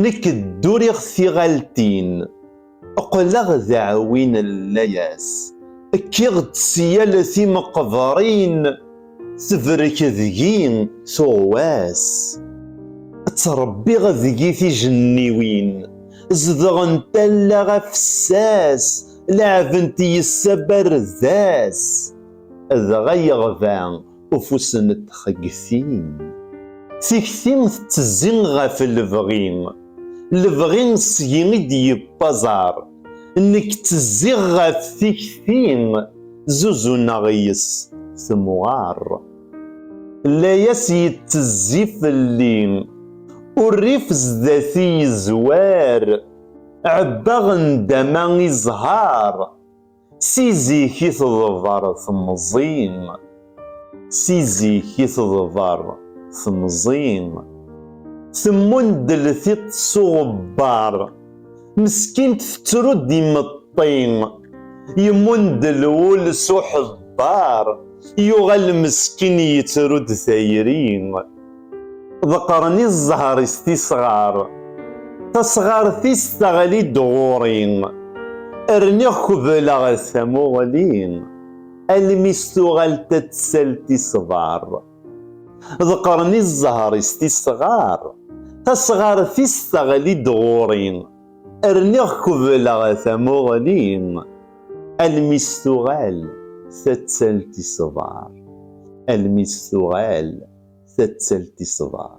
Nek dduriɣ tiɣaltin, qqleɣ d aɛwi n layas, kkiɣ-d si yal timeqberin, tebrek deg-i tuɣwas. Ttrebbiɣ deg-i tijenniwin, zedɣent allaɣ afessas, leɛbent yes-s abardas, dɣa yeɣba Ufus n txegti. Tikti tettezzi ɣef lebɣi. Lebɣi seg-i i d-yewwi aẓar. Nekk ttezziɣ ɣef tikti, zuzuneɣ yes-s temɣer. Layas yettezzi fell-i. Urrif sdat-i yezwar. Ɛebbaɣ nndama i zzher. Si zik i teḍber temẓi. Si zik i teḍber temẓi. Temmundel tiṭ s uɣebbar. Meskint tettru-d imeṭṭi. Yemmundel wul s uḥebbar. Yuɣal meskin yettru-d tayri. ḍeqqren i zzher-is tisɣar. Tasɣart-is teɣli-d ɣur-i, rniɣ kebleɣ-as tamuɣli, almi s tuɣal tatsalt isbar. Ḍeqqren i zzher-is tisɣar, tasɣart-is teɣli-d ɣur-i, Rniɣ kubleɣ tamuɣli almi s tuɣal tattalt iṣbar almi s tuɣal tattalt iṣbar